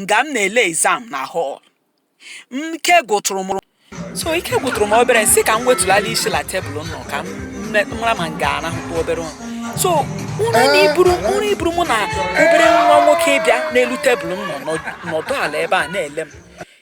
nga m na-ele exam na hall ike gwụtụrụ m so ike gwụtụrụ m obere m sị ka m wetụlala isi la tebụl nọ ka m mara ma m ga-arahụkwa obere ụra so ụra na iburu ụra iburu mụ na obere nwa nwoke bịa n'elu tebụl m nọ nọdụ ala ebe a na-ele m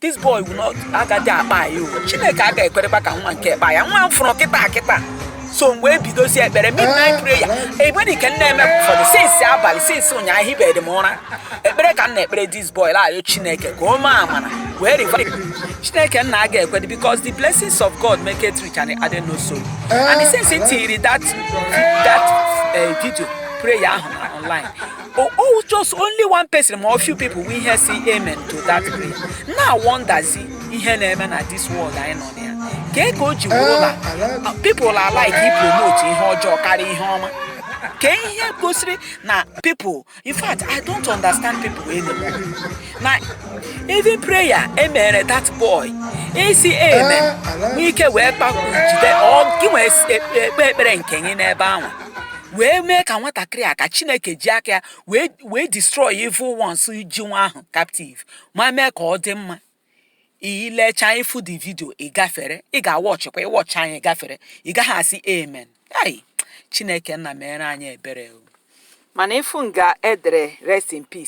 this boy will not agaghị akpa ya o chineke agaghị ekwerekwa ka nwa nke kpa ya nwa m fụrụ kịta kịta so mgbe ebidozi ekpere midnight prayer egbeni ka m na-eme ụfọdụ since abalị since ụnyaahụ ahịbeghị m ụra ekpere ka m na-ekpere this boy la-ayọ chineke ka o mee amara wee revive chineke nna aga ekwedị because the blessings of god maketh rich and he addeth no sorrow and since m tinyere that that eh, video prayer ahụ na online Oh, oh, just only one person ma few people we hear say amen to that prayer. M na-awonderzi ihe na-eme na this world anyị nọ na ya. Kee ka o ji wụrụ na uh, people are like ị promote ihe ọjọọ karịa ihe ọma. Kee ihe gosiri na people in fact I don't understand people anymore. Na even prayer e mere that boy ịsị amen nwee ike wee kpakwu jide ọ gị wee kpee ekpere nke gị n'ebe ahụ. wee mee ka nwatakịrị a ka chineke ji aka ya wee wee destroy evil ones ji nwa ahụ captive ma mee ka ọ dị mma ị lechaa ị fụ the video ị gafere ị ga-awatchkwa ị watch ya ị gafere ị gaghị asị amen ai chineke nna mere anyị ebere o mana ị fụ nga e dere rest in peace